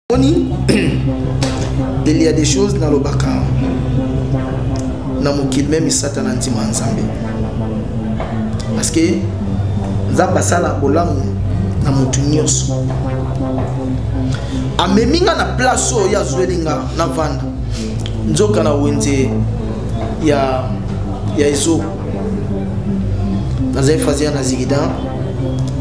Boni, il y a des choses dans le baka. Na mokili même Satan antima Nzambe. Parce que Nzambe asala bolamu na motu nyonso. Amemi nga na place oyo azweli nga na vanda. Nzoka na wenze ya ya ezo nazali fazia na zigida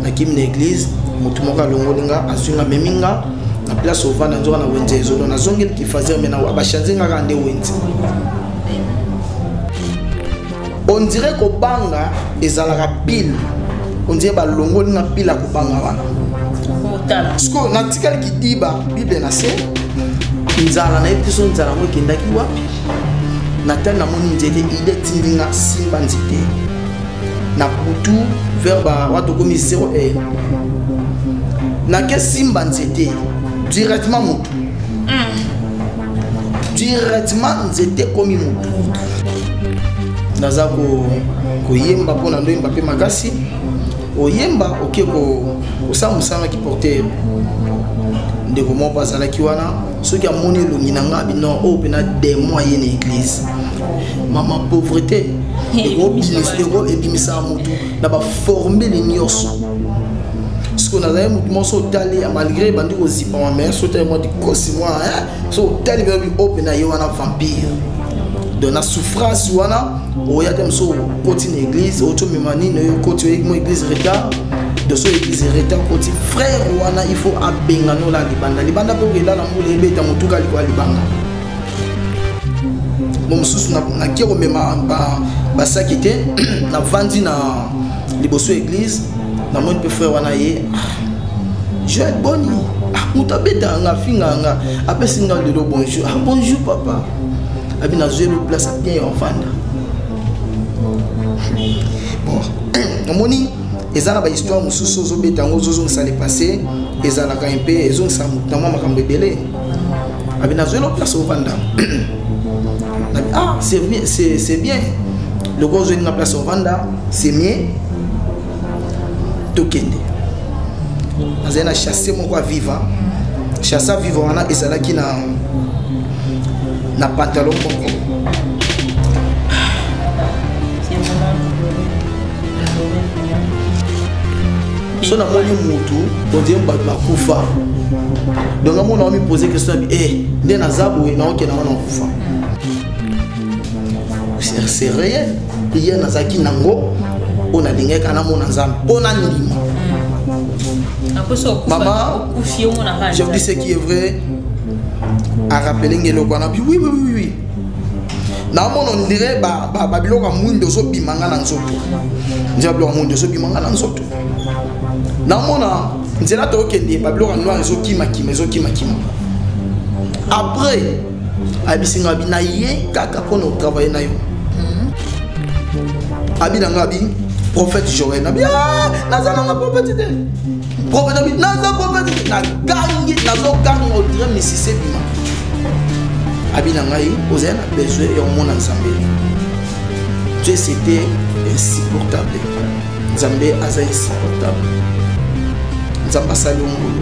nakimi na église motu moko alongoli nga azwi nga amemi nga na place ovanda nzoka na wenze ezolo nazongeli kifazia me bachanze nga kaka nde wenze on dirait kobanga ezalaka pile on dirait balongoli nga pile ya kobanga wana sikoyo natikali kidiba bible na se nzala nayebi te so nzala yango ekendaki wapi natali namoni nzete ide etindi nga simba nzete na butu vers bawa tokomi 0 e nake simba nzete directement motu mm. directement nzete ekomi motu naza koyemba mpo na ndoyemba mpe makasi oyemba oke kosala mosala na kiportere ndeko moko azalaki wana soki amoni elongi na ngai bino oyo oh, mpena demon aye na eglise mama pauvreté ebimisaka motu na baformele nyonso siko nazali motu moko so otali malgré ebandi kozipama mai so otali mwa dikosi mwa so otali bino biope na ye wana vampire donc na souffrance wana oya te mosu okoti na église oti omema nini oyo okoti oyeki mo église retard doso église retard okoti frère wana il faut abengana ola libanda libanda mpe okenda na mbula ebeta motuka likola libanda mo mosusu nake komema basaki te navandi na liboso ya église namoni mpe frère wana ye ah, joel boni ah, moto abetaka nga afingaka nga apesi nga lelo bonjour ah, bonjour papa abi nazwi elo place ya bien ya ofanda omoni eza na bahistoire mosusu ozobeta yango ozozongisa le passé ezalaka mpe ezongisa na mwa makambo ebele abi nazwi elo place ofanda ah c'est bien lokola ozwi nga place ofanda c'est mieux tokende nazali na chasse moko ya viva chasse ya viva wana ezalaki na na pantalon moko so namoni motu ondie bato bakufa donc amona wamipose question yabi e eh, nde naza boye naokenda wana kufa c'est réel prière nazalaki nango oyo nalingaki kana mona nzambe mpo nandima mama je vous dis ce qui est vrai arapele nge eloko wana bi oui oui oui oui naomona ondire babiloko ya mwindo ozobima nga na nzoto nzela biloko ya mwindo ozobima nga na nzoto naomona nzela tokokende babiloko ya noir ezokimakima ezokimakima après ayebisi nga abi na ye kaka mpo na otravaille na yo abi na nga abi prophète joel nabi ah, naza nanga prophète te prophète abi naza prophète te nagangi nazoganga odire misisi ebima abi na ngai ozali na besoin ya komona nzambe dieu c'était insupportable nzambe aza insupportable nzambe asali yo ngulu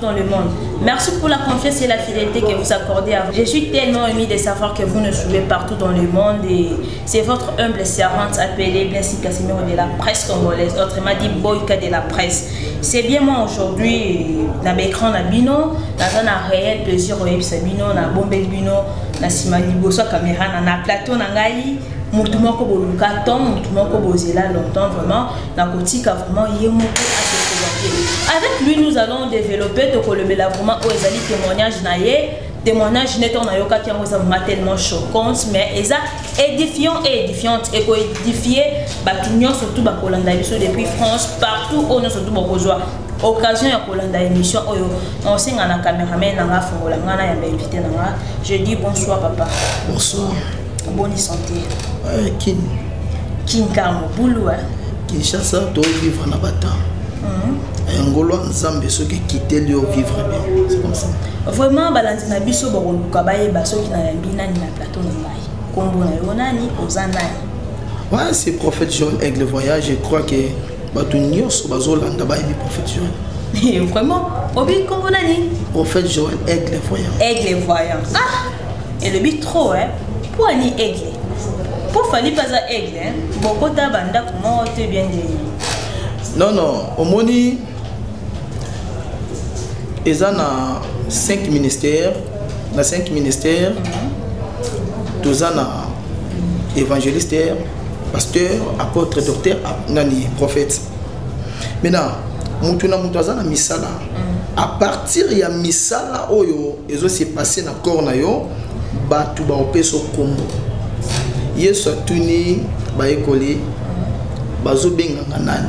dans le monde. Merci pour la confiance et la fidélité que vous accordez à vous. Je suis tellement ému de savoir que vous nous suivez partout dans le monde et c'est votre humble servante appelée Blessing Casimiro de la presse congolaise, autrement dit Boyka de la presse. C'est bien moi aujourd'hui, na l'écran na bino, na un réel plaisir au Sabino, na bombel bino, na sima liboso caméra, na plateau na ngai, mutu moko boluka temps mutu moko bozela longtemps vraiment nakotika vraiment ye moko asekolake avec lui nous allons développer tokolobela vraiment oyo ezali témoignage na ye témoignage neti oyo nayokaki yango eza vraiment tellement choquante mais eza édifiant et édifiante ekoédifie bato nyonso tu bakolanda biso depuis france partout oyo nyonso tu bokozwa occasion ya kolanda émission oyo osenga na cameraman na nga afongola nga na yamba invité na nga je dis bonsoir papa bonsoir boni santé eh, kin kinkango bulu eh? kinshasa tovivre na batemp mhm. eh, ngolwa nzambe soki ekiteli yo vivre bien c'est comme ça vraiment balandi na biso bakoluka bayeba soki nayambi nani na plateau na ngai nkombo na yo nani oza nani ouais c'est prophète john aigle voyage je crois que bato nyonso bazolanda bayebi prophète john vraiment obi nkombo nani prophète joel aigle voyant aigle voyant ah elobi trop hein mpo ani aigle mpo fali mpe aza aigle bokota bandako moko te bien ndeni non non omoni eza na 5 ministère na 5 ministère toza na évangéliste pasteur apôtre docteur nani prophète maintenant motu na motu aza na misala mm. à partir ya misala oyo ezo se passer na corps na yo bato baopesa nkombo yesu atuni bayekoli bazobengaka nani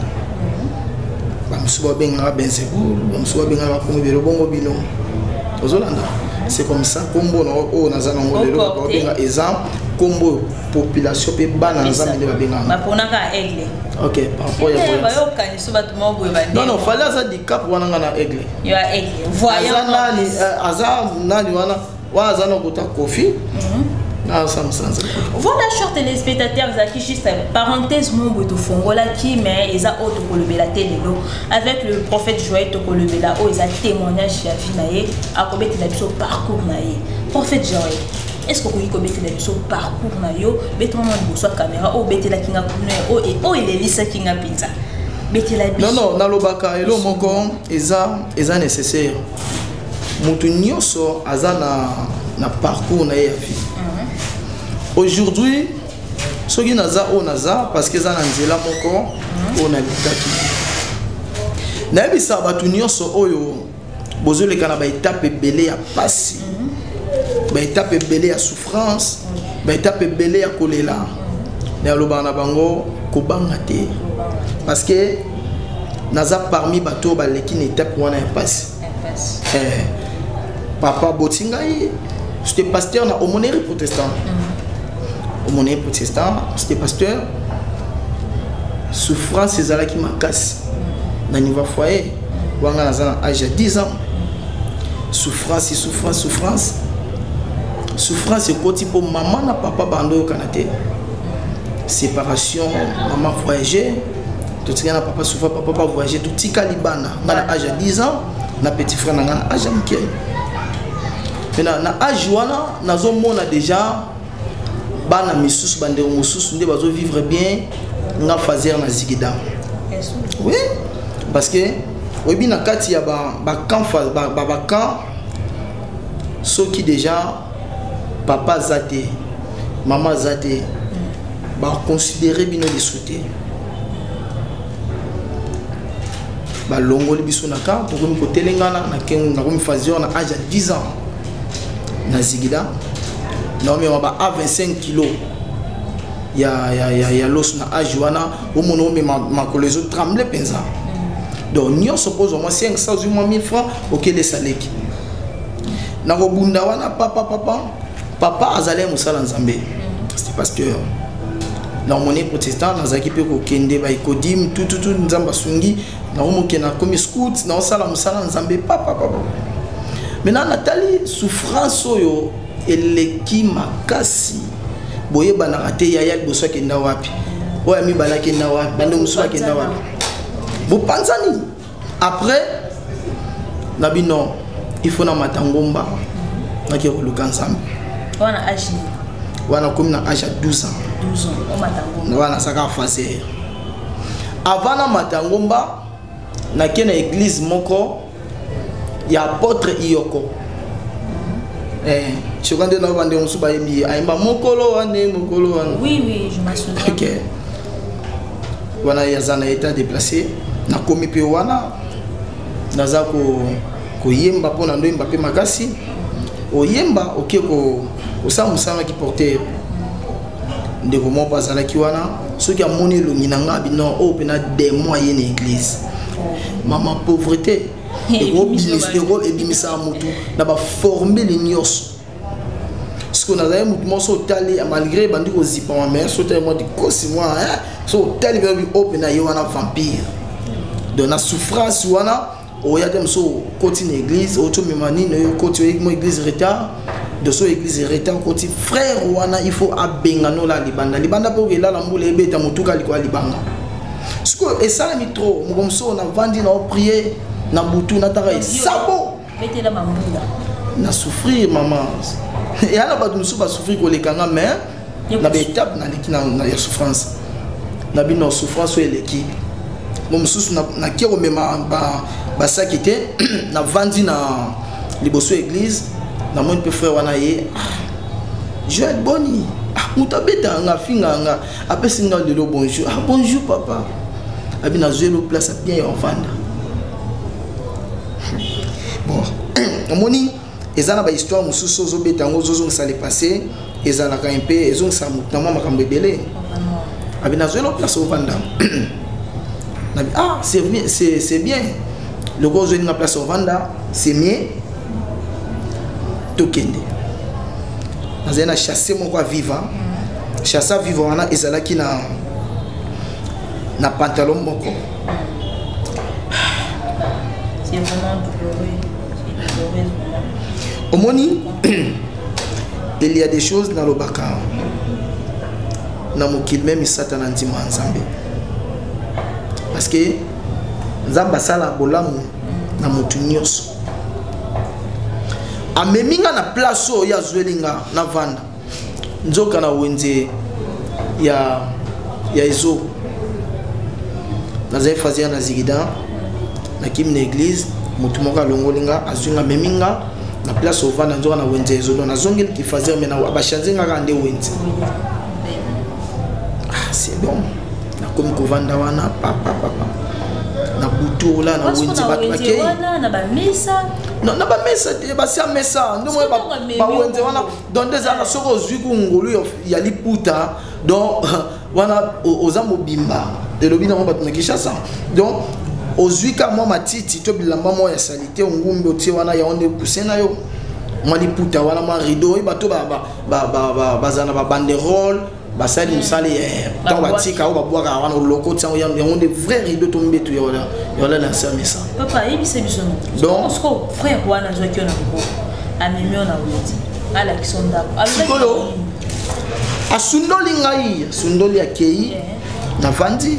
bamosusu babengaka benzebul bamosusu babengaka bakomi belo bongo bino ozolanda c'est comme ça nkombo na oyo naza nango lelo babenga eza nkombo oyo population mpe bana nzambe nde babengaka ok par rapport ya biso bato moko boye bande non non fali aza dicap wana nga na aigle yo ya aigle voyant aza nani euh, aza nani wana wana aza na kota kofi mhm. voilà chers téléspectateurs ezalaki juste parenthèse moko boye tofongolaki mais eza oyo tokolobela te lelo avec le prophète joël tokolobela oyo eza témoignage ya vie na ye akobetela biso parcours na ye prophète joël est ce que okoki kobetela biso parcours na yo betela mwa liboso ya caméra oyo obetelaki nga kuna oyo elelisaki nga mpenza betela biso non non nalobaka elo moko eza eza nécessaire moto nyonso aza na, na parcours na ye ya vie mhm. aujourd'hui soki naza oyo naza parce que eza na nzela moko mhm. oyo nalekaki nayebisa bato nyonso oyo bozoleka na baetape ebele ya mpasi mhm. baetape ebele ya souffrance baetape ebele ya kolela me alobaka na bango kobanga te parce que naza parmi bato oyo baleki na etape wana ya mpasi eh, papa boti ngai c'était pasteur na omoneri protestant mhm. omoneri protestant c'était pasteur souffrance ezalaki makasi mhm. na niveau foyer wanga naza na age ya 10 ans souffrance souffrance souffrance souffrance ekoti mpo mama na papa bando oyokana te séparation mama voyage totikala na papa souvent papa pa voyage totikali bana nga na age ya 10 ans na petit frère na nga na age ya moke na age wana nazomona déjà bana misusu bandeko mosusu nde bazo vivre bien nga fazer na zigida oui parce que oyebi na kati ya bacamp ba, ba, ba camp, soki déjà papa aza te mama aza te baconsidere bino lisu te balongoli biso na camp tokomi kotelengana nakomi fazer na age ya 10 ans na zigida naomema ba a 25 kilo ya, ya, ya, ya loso na age wana omona omema makolo ezo tremble mpenza donc nyonso mpo ozwa mwa 500 ozwi mwa 1000 franc okelesa leki nakobunda wana papa papa papa azali mosala nzambe c'était pasteur na omoni protestant nazalaki mpe kokende baekodime tututu nzambe asungi naomoke nakomi scout naosala mosala nzambe papapapa maintenant natali souffrance oyo eleki makasi boyebanaka te yaya liboso akenda wapi oyo amibale akenda wapi bande mosusu akenda wapi bopanzani après na bino il faut na mata ngomba nake koluka nzambe wana age wana komi na age ya 12 ans wana asaka faser avant na mata ngomba nake na église moko ya apôtre iyoko eh, soka nde nao bandeko mosusu bayembi ye ayemba mokolo wane mokolo wana oui, oui, je me souviens. Okay. wana aza na état déplacé nakomi mpe wana naza ko, koyemba mpo na ndoyemba mpe makasi oyemba oke okay, kosala ko mosala na kiportere ndeko moko mpe azalaki wana soki amoni elongi na ngai abino oyo oh, mpena demon aye na église mama pauvreté ebimisaka motu na baformele nyonso sikoyo nazali motu moko so otali malgré ebandi kozipama mai so otali mwa dikosi mwa so otali mpe oyo mpena ye wana vampire donc na souffrance wana oya te mosusu okoti na église oti omema nini oyo okoti oyeki mo église retard doso église retard okoti frère wana il faut abenga nola libanda libanda mpe okelala mbula ebeta motuka likolo ya libanga sikoyo esalami trop moko mosusu navandi na oprie na butu nataka esabo na souffrir mama eya na bato mosusu basouffrir koleka nga mais na baetape naleki ya souffrance na bino souffrance oyo eleki mo mosusu nake komema basaki te navandi na liboso ya église namoni mpe frère wana ye ah, joel boni ah, moto abetaka nga afingaa nga apesi nga lelo bonjour ah, bonjour papa abi nazwi elo place abien ya ofanda bon omoni eza na bahistoire mosusu ozobeta yango ozozongisa le passé ezalaka mpe ezongisa moto na mwa makambo ebele abi nazweli o place ovanda nabi ah c'est bien loko ozweli nga place ovanda c'est mieux tokende nazali na chasse moko ya viva chasse ya viva wana ezalaki na na pantalon moko omoni il y a des choses nalobaka na mokili meme satana ndima ya nzambe parce que nzambe asala bolamu na motu nyonso amemi nga na place oyo azweli nga navanda nzoka na wenze ya, ya ezo nazali fazi ya na zigida nakimi na eglise motu moko alongoli nga azwi nga amemi nga na place ovanda nzoka na wenze ezo don nazongeli kifazer me bachanze nga kaka nde wenze ah, c'est bon nakomi kovanda wana papapapa na butu ola na wenze bato bakei na bamesa te basi ya mesa nde bawenze wana donc nde ezalaka soki ozwi ku ngolu ya liputa donc wana oza mobimba elobi nango bato na kinshasa donc ozwi ka mwa matiti to bilamba mwa ya salite ongumbi otie wana yango nde kuse na yo mwa liputa wana mwa rideau oyeba to bazala na babanderole basali mosala ntango batika oyo babwaka wana oloko ntiango yango nde vrai rido to mbetu ya wala na nse ya mesa donc frère wana azwaki yo na maboko amemi yo na weti alakisa ndako sikoyo asundoli ngai asundoli akei navandi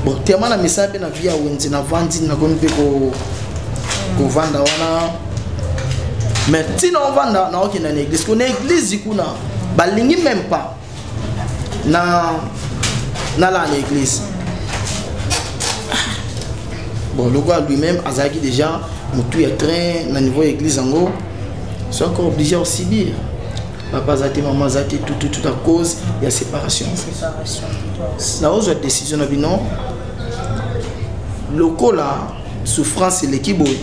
bon tema na misala mpe na vie ya wenze navandi nakomi mpe kovanda wana mais ntina ovanda naokenda na eglise kuna eglise kuna balingi meme pas na nalaa na église bon lokola lui-même azalaki déjà motu ya train na niveau ya église yango so encore obligé ya osibir papa aza te mama aza te tututu à cause ya séparation naozwa décision na bino lokola souffrance eleki boye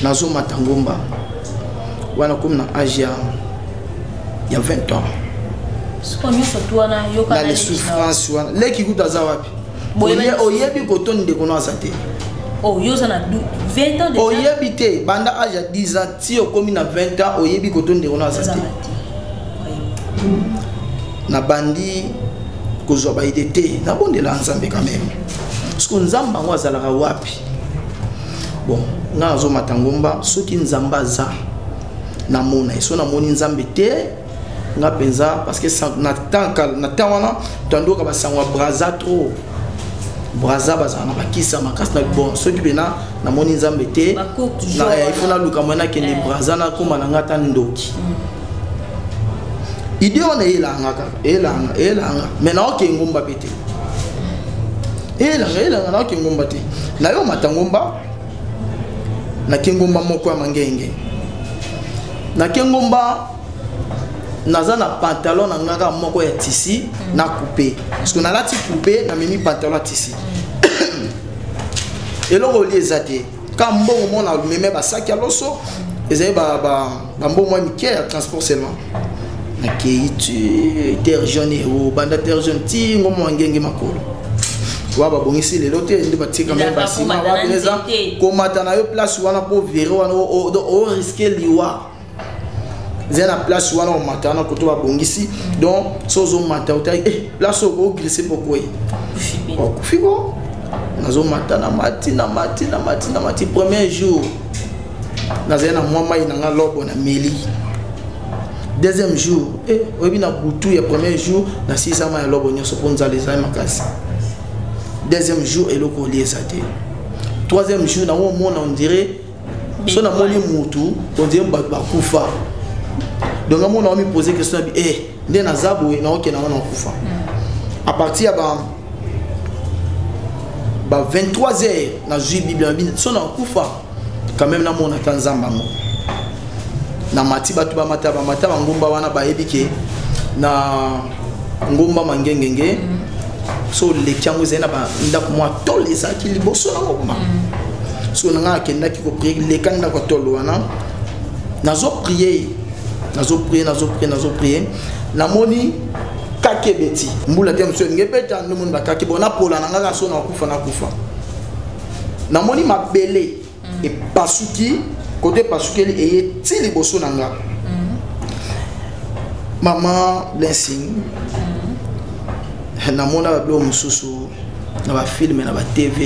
nazomata ngomba wana komi na age ya ya 20 ans na le souffrance wana leki kutu aza wapi oyebi koto ndeko no aza te oh, oyebi te banda age ya 10 ans ti okomi na 20 ans oyebi koto ndeko no aza te nabandi kozwa baide te nabondela nzambe quand même parceke nzambe yango azalaka wapi bon nga nazomata ngomba soki nzambe aza na mona ye so na moni nzambe te nga mpenza parce que na temps wana toandoka basango ya braza trop braza bazala na bakisa makasi na bon soki mpena namoni nzambe te eh, ifo naluka mwa nakende eh. braza nakoma na nga ata ndoki mm. idée wana eyelanga kaka eyelanga eyelanga mai naoke engumba mpe te eyelanga eyelanga naoke engumba te nayo mata ngumba na kengomba moko ya mangenge na kengomba naza na pantalon na ngaka moko ya tisi na coupe parce que nalati coupe namemi pantalon ya tisi eloko oli eza te ka mbongo mona meme basaki ya loso ezali ba, ba bambongo ya mike ya transport seulement nakei ti terre jaune ero banda terre jaune ti ngombo wangenge makolo wa babongisi lelo te nde batikami basima wapi eza komata na yo place wana mpo vere wana oriske liwa eza na place wana omata wana koto babongisi donc so ozomata otali eh, place oyo oglise pokoye okufi ko nazomata na mati na mati na mati na mati premier jour nazali na mwa mai na nga lobo na meli deuxième jour eh, oyebi na butu ya premier jour na sisama ya lobo nyonso mpo nzala ezali makasi deuxième jour eloko olie eza te troisième jour nango omona ondire so namoni mutu ondire bato bakufa donc amona omi pose question ya bi e eh, nde naza boye naokenda ngo nakufa mm. à partir ya ba ba 23 heures nazwi bible na bino so nakufa quand même namona ata nzambe yango na mati bato bamata bamata bangomba wana bayebi ke na ngomba mangengenge mm. so oleki yango ezali na bandako mwa tole ezalaki liboso na ngoma mm. so na ngai akendaki koprie leka ndako ya tolo wana nazo prie nazo prie nazo prie nazo prie namoni kake ebeti mbula te mosusu elingi ebeta nde omoni bakake bo napola na ngai kaso nakufa nakufa namoni mabele mm. epasuki kote epasukeli eye ti liboso na nga mm. mama blessing mm. namona babilo mosusu na bafilme na batv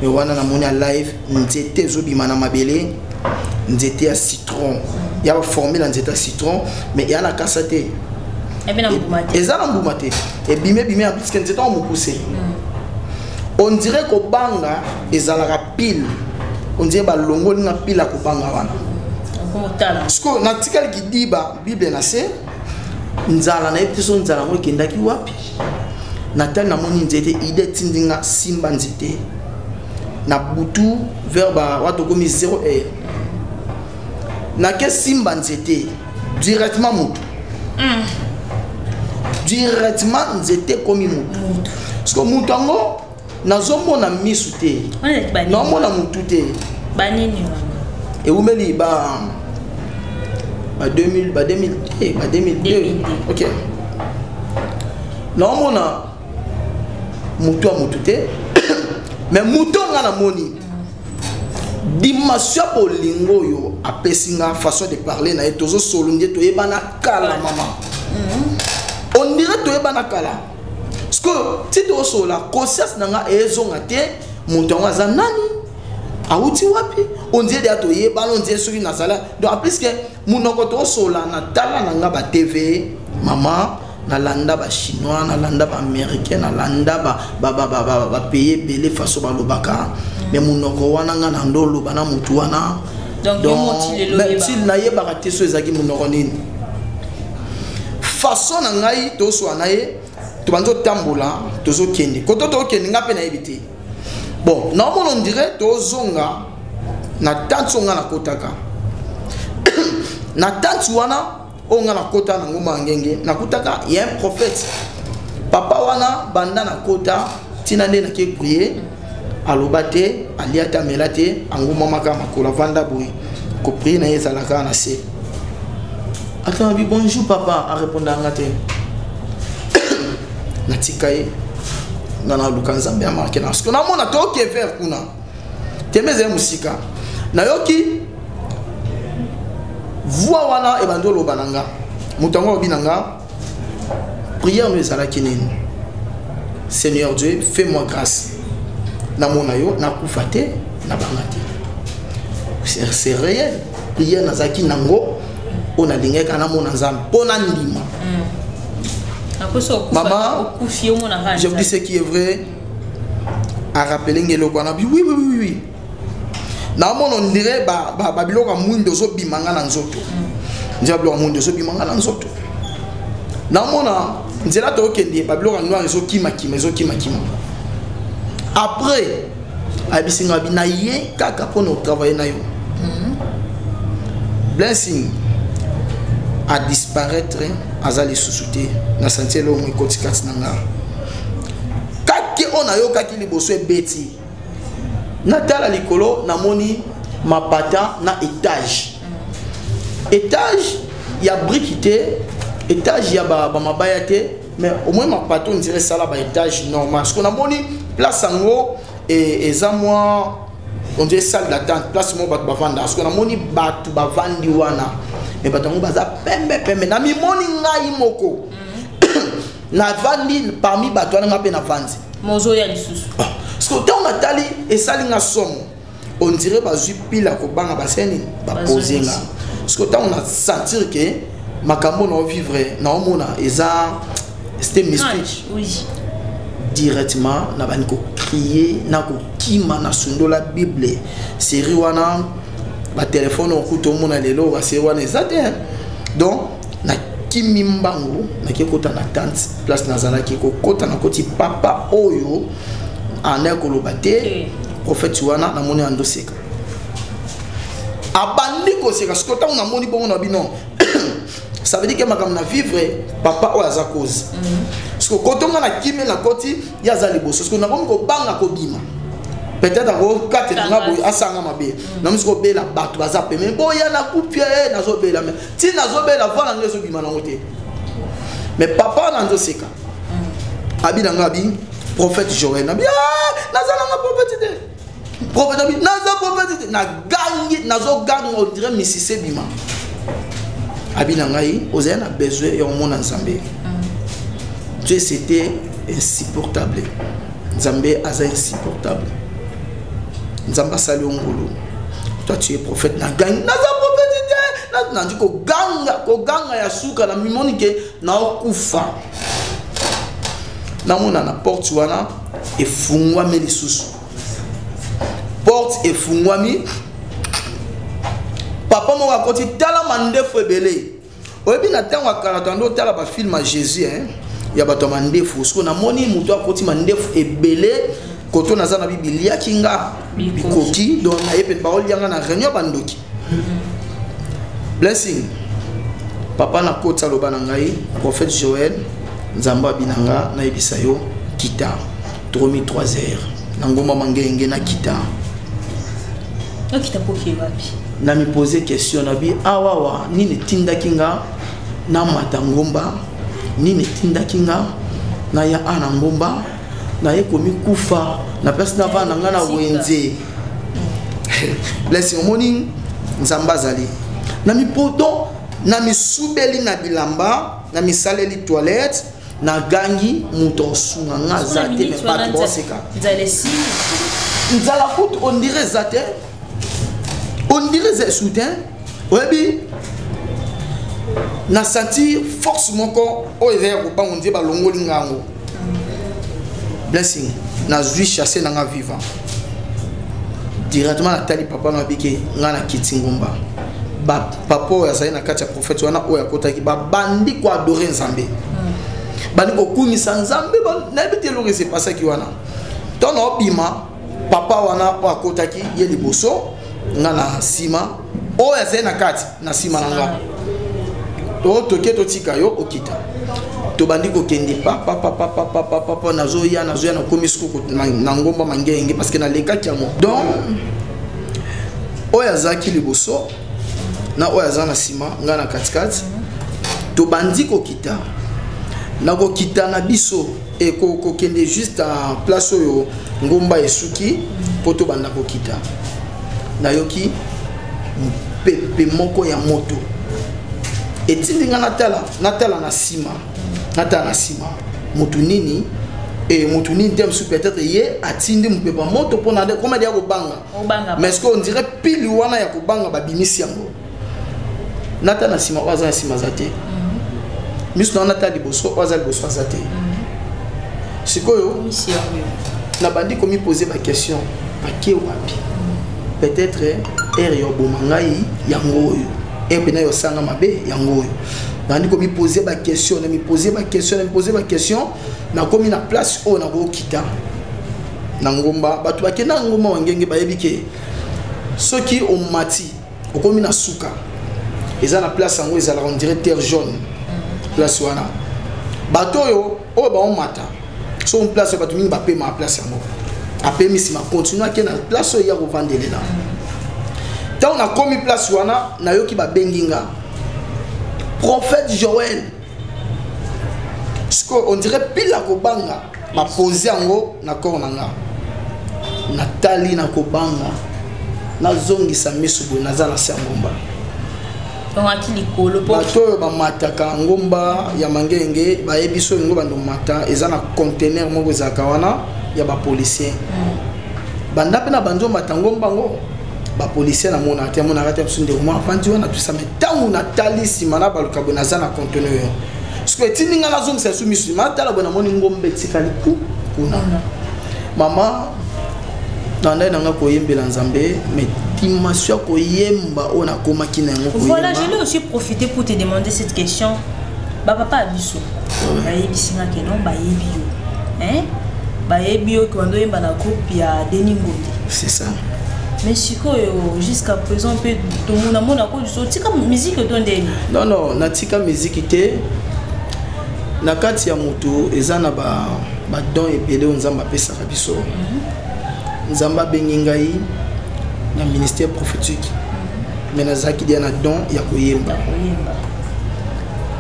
me wana namoni ya live nzete ezobima na mabele nzete ya citron mm. ya baforme na nzete ya citron me eya na kasa te eza na mbuma te ebimi ebimi ya biske nzete yango mokuse mm. on dirait kobanga ezalaka pile on dirait balongoli nga pile ya kobanga wana sikoyo natikali kidiba bible na se nzala nayebi te so nzala yango ekendaki wapi natali namoni nzete ide etindi nga simba nzete na butu vers ba wato komi 0 heure nake simba nzete directement moto mm. directement nzete ekomi moto parceke moto yango nazomona misu te naomona motu te banini ewumeli ba ba 2000 ba 2000 eh, ba 2002 ok naomona motu ya motu te mais moto nga namoni dimension ya bolingo oyo apesi nga façon de parler na ye tozosolo nde toyebana kala mama mm-hmm. on dirait toyebana kala sikoyo ti tosolola conscience na nga ezonga te moto yango aza nani awuti wapi ondie deya toyebana ondie soki nazala donc apliske munoko tosola na tala na nga ba tv mama nalanda bachinois nalanda baaméricain nalanda bapays ebele faso balobaka me monoko wana nga na ndo oloba na motu wana donti nayebaka te so ezalaki monoko nini façon na ngai toswana ye tobandi otambola tozokende koto tokende ngai mpe nayebi te bon naomona ondire tozonga na tanti oyo ngai nakotaka na tanti wana oyo ngai nakota na ngomba ya ngenge nakutaka ya un prophète papa wana banda nakota ntina nde nake prie aloba te alia te amela te angumamaka makolo avanda boye koprie na ye ezalaka na se atanabi bonjour papa arepondanga te na tika ye nga na luka nzambe ya marke na siko namona toyoki evere kuna tembe ezali mosika nayoki voi wana ebandi oloba na nga moto yango alobi na nga priere no ezalaki nini seigneur dieu fait moi grâce namona yo nakufa te nabanga te c'est réel priere nazalaki nango oyo nalingaki kaka namona nzambe mpo nandima hmm. mama je vous dis ce qui est vrai arapele nge eloko wana bi oui oui oui oui naomona ondire babiloko ya mwindo ezobima nga na nzoto hmm. nzela biloko ya mwindo ezobima nga na nzoto naomona nzela tokokende babiloko ya noir ezokimakima ezokimakima après ayebisi nga bi na ye kaka mpo na otravaille na yo mhm. blessing adisparaître aza lisusu te na santi elongo ekoti kati na nga kaki oyo nayokaki liboso ebeti natala likolo namoni mapata na etage etage ya briki te etage ya bamabaya te mais au moins ma pato on dirait sala ba étage normal ce qu'on a moni place yango et eza moi on dirait salle d'attente place mo bato bavanda ce qu'on a moni bato bavandi wana mais bato yango baza pembe pembe na mimoni ngai moko mm. navandi parmi bato wana ngai mpe navandi mozoya lisusu ah, parce que ntango natali esali nga somo on dirait bazwi pila kobanga baseni bapose nga parceke ntango na sentir ke makambo na ovivre na omona eza c'était mystique oui. directement na bandi kokrie na kokima na sundola bible série wana batelefone okuta omona lelo baseri wana eza te donc na kimi mbangu nake kota na tante place nazalaki kokota na koti papa oyo anda koloba te eh. prophète wana namoni andoseka abandi koseka siko ntango namoni bongo na bino ça veut dire que makambo na vivre papa oyo aza cause mm. siko kotonga na kimi na koti ye aza liboso siko nakomi kobanga kobima peut-être akokatela nga boye asanga mabe mm. namosi kobela bato baza peme boya na kupie eh, nazobela ti nazobela voi na ngai ezobima nango te mais papa na nzoseka mm. abi na ngai abi prophète joel nabi ah, naza nanga prophète te prophète abi naza prophète te nagangi nazoganga ondire misise ebima abi na ngai ozali na besoin ya komona nzambe mm. tu c'était insupportable nzambe aza insupportable nzambe asali yo ngulu toi tu es prophète na gangi naza prophète te nandi koganga koganga ya suka na mimoni ke naokufa namona na porte wana efungwami lisusu porte efungwami papa moko akoti tala mandefu ebele oyebi na ntango ya kala tando otala bafilme ya jésus hein? ya bato ya mandefu sikoyo namoni moto akoti mandefu ebele koto naza na bibi liaki nga bikoki donc naye mpe baolia nga na réunion bandoki blessing papa nakoti aloba na ngai prophète joel nzambe abina nga nayebisa yo kita tokomi 3 heures na ngomba mangenge na kita okita poke wapi na mi poser question na bi awawa nini etindaki nga na mata ngomba nini etindaki nga na ya a na ngomba na ye komi kufa na place na vana nga na wenze blessing omoni nzambe azali na mipoto na misubeli na bilamba na misaleli toilette Na gangi muto sunga nga zate me pas trop seka. Nzalesi. Nzala kutu on dirait zate. On dirait ze soutien. Oyebi na sentir force moko oyo eza ya kobango nzambe balongoli nga yango blessing nazwi chasse na nga vivant directement natali papa na abike nga na kiti ngomba papa oyo azali na kati ya fati wana oyo akotaki babandi koadore nzambe hmm. bandi kokumisa nzambe nayebi te eloko esepasaki wana ntango naobima papa wana oyo akotaki ye liboso nga na nsima oyo azali na kati na nsima na nga to toke totika yo okita tobandi kokende papapapapapapapa nazoya nazoya nakomi suku na ngomba mangenge parce que nalekaki yango donc oyo azalaki liboso na oyo aza na nsima ngai na katikati tobandi kokita na kokita na biso ekokende juste en place oyo ngomba esuki mpo tobanda kokita nayoki mopepe moko ya moto etindi ngai natala natala na nsima natala na nsima motu nini e motu nini te mosusu peut-être ye atindi mopepe ya moto mpo na nde koma deya kobanga mais ce qu'on dirait pile wana ya kobanga babimisi yango nata na nsima oyo aza na nsima aza te mhm. miso na wana ata liboso oyo aza liboso aza te mhm. sikoyo nabandi komipose baquestion bake wapi mhm. peut-être ere ya oboma ngai yango oyo ere mpena ya osanga mabe yango oyo nabandi komipose baquestion namipose baquestion namipose baquestion nakomi na place oyo nakokita na ngomba bato bakenda na ngomba wangenge bayebi ke soki omati okomi na suka eza na place yango ezalaka ondire terre jaune mm. place wana bato oyo oyo baomata soki place oyo bato mingi bapema na place yango apemi nsima continue ake na place oyo ya kovandelela ntango nakomi place wana nayoki babengi nga prophète joel sikoyo ondire pila kobanga na pose yango na corps na nga natali na kobanga nazongisa miso boye naza na se ya ngomba tongaki likolo bato oyo bamataka ngomba ya mangenge bayebi so yango bando mata eza na contener moko ezalaka wana ya bapolicien mm. banda mpe na bandi omata ngomba yango bapolicien namona te amonaka te biso ndeko mwa afandi wana tosame ntango natali nsima na balokabo naza na contener sikoyo etindi ngai nazongisa lisu misu ma tala boye namoni ngombe etikali ku kuna mama nandai na ngai koyembela nzambe mais dimension ya koyemba oyo nakomaki na yango voilà je l'ai aussi profité pour te demander cette question bapapa ya biso bayebisi nga ke non bayebi yo bayebi yo kibanda oyemba na groupe ya denis ngombe c'est ça mais sikoyo jusqu'à présent mpe tomonamona so tika miziki oto ndeni non non natika miziki te na kati ya moto eza na badon ebele oyo nzambe apesaka biso mhm. nzambe abengi ngai na ministère prophétique mhm. me nazalaki dia na don ya koyemba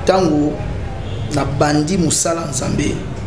ntango nabandi mosala nzambe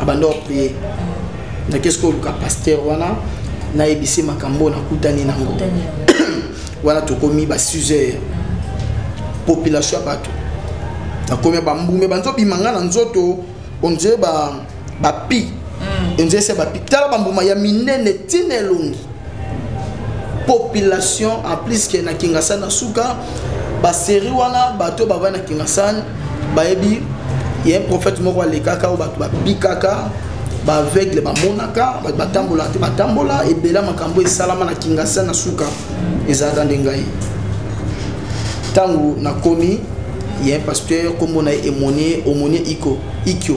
abanda oprie nake soki oluka paster wana nayebisi makambo oyo nakutani nango wana tokomi ba 6 heures population ya bato nakomi bambume banzobima ngai na nzoto ondire bapi mm. ondire se bapi tala bambuma ya minene ntina elongi population en plus ke na kingasani na suka baserie wana bato oyo bavai na kingasani bayebi ya prophète moko alekaka oyo bato babikaka baaveugle bamonaka bato batambolaka te batambola ebela makambo esalama na kingasani na suka ezalaka nde ngai ntango nakomi ye pasteur nkombo na ye emonie omonie iko ikyo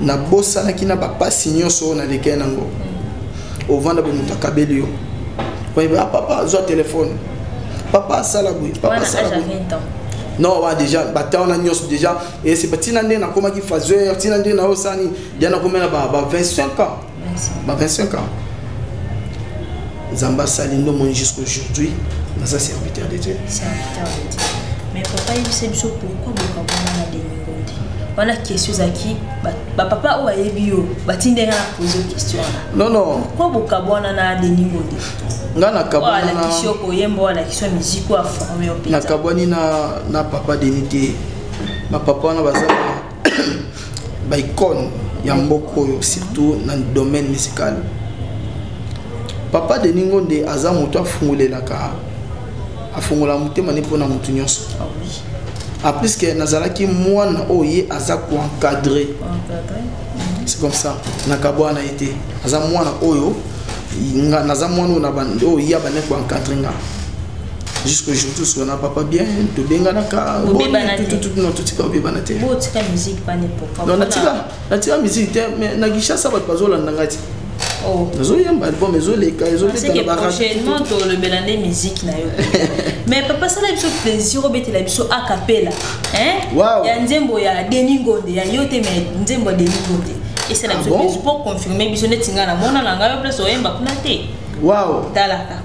nabosanaki na bapasi nyonso oyo nalekei nango ovanda boye moto akabeli yo oyeba ah, papa azwa telefone papa asala boye papa asala boye non wa déjà batemp wana nyonso déjà esi ntina nde nakomaki faseur ntina nde naosani dia nakomela ba 25 ans ba 25 ans nzambe asali ndo moni jusqu'aujourd'hui naza serviteur de dieu serviteur de dieu mais papa yebisa biso pourquoi bokabwana na deningo te wana question ezalaki bapapa oyo ayebi yo batindi nga na pose question wana non non pourquoi bokabwana na deningo te nga nakabwanalakisi yo koyemba alakisi yo miziki oyo aforme yo mpenza nakabwani na papa deni te bapapa wana baza ba icone ya mboka oyo surtout na domaine musical papa de ningo nde aza moto afungolelaka afungola motema ne mpona moto nyonso ah a plus que nazalaki mwana oyo ye aza koencadre c'est comme ça nakabwa na ye te aza mwana oyo naza mwana oyo ya bane koencadre nga jusqu'au jour tosuka na papa bien tobenganaka totika obebana te natika musique te mais na kinshasa bato bazolanda ngai te oh. nazoyemba album ezoleka ezolekaprochainement tolobela nde musique na yo mais papa sala biso plaisir obetela biso akapela ya nzembo ya deni ngonde ya yo te mais nzembo ya deni ngonde esala ah biso plaisir mpo confirme biso neti ngai namona na ngai yo place oyemba kuna te waw talaka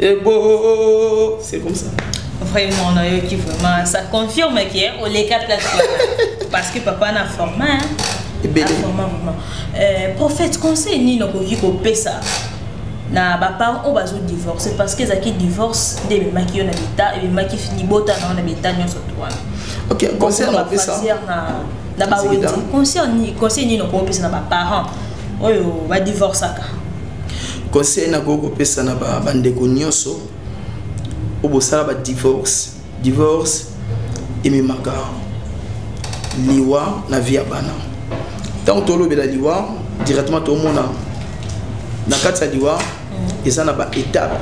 Et bon, oh, oh, oh, c'est comme ça. Vraiment, on a eu qui vraiment. Ça confirme qu'il y a les quatre plateformes. Parce que papa n'a formé. Hein? Et bien. Vraiment, vraiment. Euh, prophète, conseil, ni non, qui peut ça. na baparent oyo bazodivorce parce que ezalaki divorce nde ememaki yo na beta ememaki libota na yo na beta nyonso to wana na bawenzi conseil nini okopesa na baparent oyo badivorcaka conseil nakoki kopesa na bandeko nyonso oyo bosala badivorce divorce ememaka liwa na vie ya bana ntango tolobela liwa directement tomona na kati ya liwa mm. eza na baetape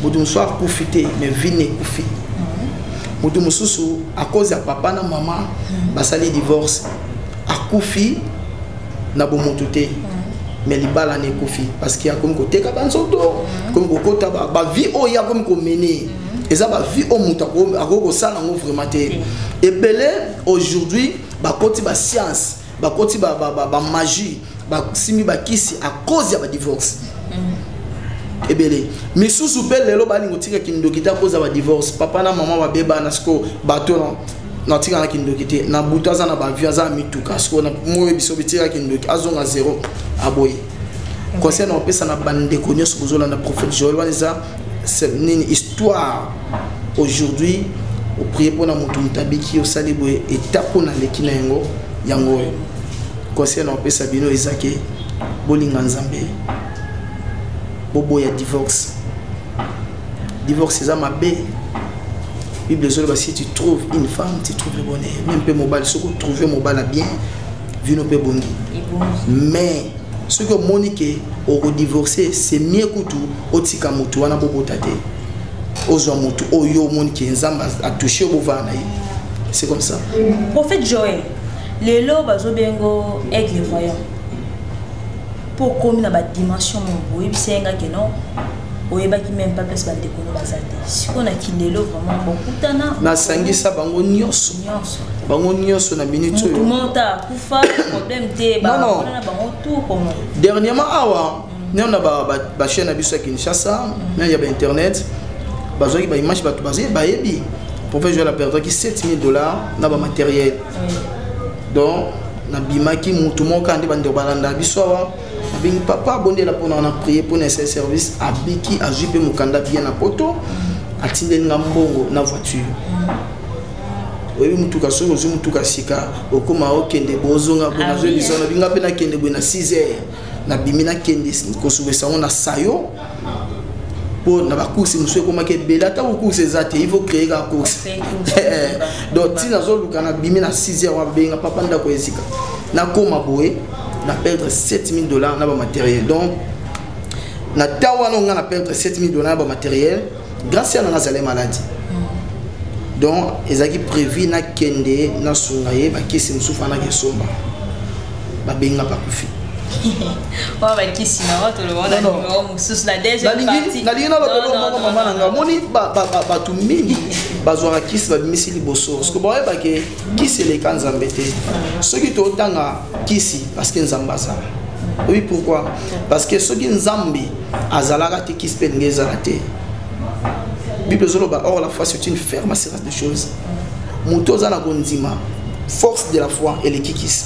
moto mosusu akufi te mais vie na ekufi mm. moto mosusu akozi ya papa na mama mm. basali divorce akufi na bomotu te mm. mais libala na ekufi parce que akomi koteka banzoto mm. akomi kokota bavie oyo ye akomi komene mm. eza bavie oyo moto akoki kosala yango vraiment te ebele aujourd'hui bakoti bascience bakoti bamagie basimbi bakisi à cause ya badivorce ebele misusu mpe lelo balingi kotika kindoki te akoza badivorce papa na mama babebana siko bato na tika na kindoki te na butu aza na bavio aza na mituka sikoyo na moyo biso bitika kindoki azonga zero aboye conseil na opesa na bandeko nyonso kozolanda prophète joel wana eza nini histoire aujourd'hui oprie mpo na moto moto abiki osali boye etape oyo naleki na yango yango oyo conseil na opesa bino eza ke bolinga nzambe boboya divorce divorce eza mabe bible ezoloba si tu trouves une femme tu trouves le bonheur meme mpe mobali soki otrouve mobala bien vino mpe ebongi mais soki omoni ke okodivorce c'est mieux kutu otika motu wana bobota te ozwa motu oyo omoni ke nzambe atouche bovaa na ye c'est comme ça prophète joel lelo bazobengo aigle voyant mpo okomi na badimension moko oyebisa ye ngaki non oyebaki meme pas place bandeko no baza te sikoyo na kilelo vraiment bokutana nasangisa bango nyonso nyonso bango nyonso na minute oyo mota akufa problème te baona na bango tout comment dernièrement awa mm. nao na bachaine na biso ya kinshasa mm. na ya bainternet bazwaki baimage bato bayebi professeur la perdaki 7000 dollars na bamateriel donc nabimaki motu moko kaka nde bandeko balanda biso awa abengi papa abondela mpo na na prier mpo na sel service abiki azwi mpe mokanda bien na poto atindeli nga mbongo na voiture oyebi motuka soki ozwi motuka sika okoma okende bozonga boye nazwi biso nabinga mpe nakende boye na 6 heures nabimi nakende kosukisa yango na sayo mpo na bacourse mosusu ekomaki ebele ata kocourse eza te ivo créer kaka course donc ti nazoluka nabimi na 6 heure wabenga papa ndako ezika nakóma boye na perdre 7000 dollars na bamateriel donc na ntango wana onga na perdre 7000 dollars na bamateriel grand sœur nanga azali maladi donc ezalaki prévu nakende nasunga ye bakisi mosusu fana nakesomba babenga bakufi oyo bakisi na oyo tolobona nimero mosusu na deuxièmepartie nalingi nalobelo moko mama na ngai omoni bato mingi bazwaka kisi babimisi liboso parce que boyebake kisi eleka nzambe te soki totanga kisi parce que nzambe azala oui pourquoi parce que soki nzambe azalaka te kisi mpe elingi ezala te bible ezoloba or la foi c'est une ferme assurance de choses moto oza na kondima force de la foi elekikisi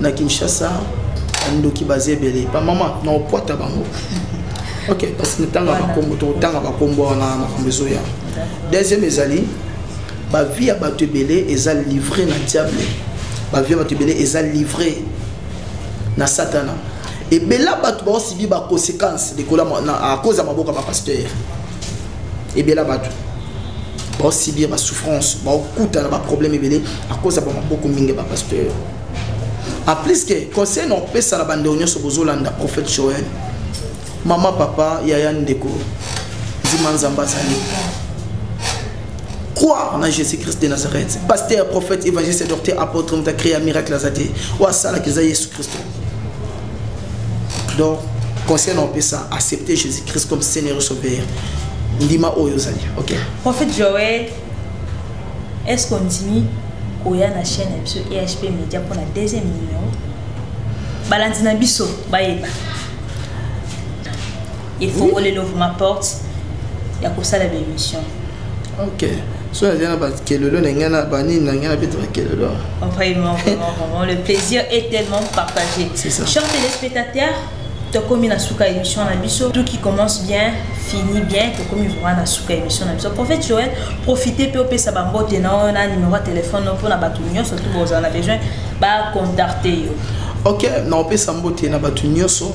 na kinshasa bandoki baza ebele bamama na okwata bango ok parce que ntanga bakombo tokotanga bakombo wana makambo ezoya deuxième ezali bavie ya bato ebele eza livre na diable bavie ya bato ebele eza livre na satana ebela bato baosibi baconséquence likolo à cause ya maboko ya bapaster ebela bato baosibir basouffrance baokuta na baproblème ebele akoza bamaboko mingi bapasteur en plus ke conseil na opesa na bandeko nyonso bozolanda prophète joel mama papa yaya ndeko nzima nzambe azali croire na jésus christ de nazareth pasteur prophète évangéliste docteur apôtre moto akrea miracle aza te oyo asalaka eza yesu kristo donc conseil naopesa accepter jésus christ comme seigneur sauveur ndima oyo ozali ok prophète joel est ce qu'ondimi koya na chaîne ya biso ehp média mpona deuxième numéro balandi na biso bayeba efongoli lovuma porte ya kosala baémission ok so nazali na bakelelo na ngai na banini na ngai nabeta bakelelo vraiment vraiment vraiment le plaisir est tellement partagé cher téléspectateur tokomi na suka émission na biso tout qui commence bien fini bien tokomi vraiment na suka émission na biso prophète joel profite mpe opesa bambote na oyo na numéro ya telefone no mpo na bato nyonso tu bozala na besoin bacontacte yo ok naopesa mbote na bato nyonso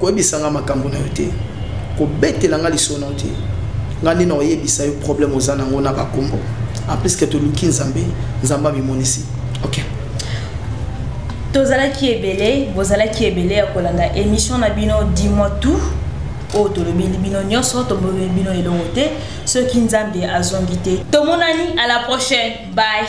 koyebisa nga makambo na yo te kobetela nga lisolo na yo te nga nde nakoyebisa yo problème oza nango na bakombo en plus ke toluki nzambe nzambe amimonisi ok tozalaki ebele bozalaki ebele ya kolanda émission na bino dis-moi tout oyo tolobeli bino nyonso tomoni bino elongo te soki nzambe azongi te tomonani à la prochaine bye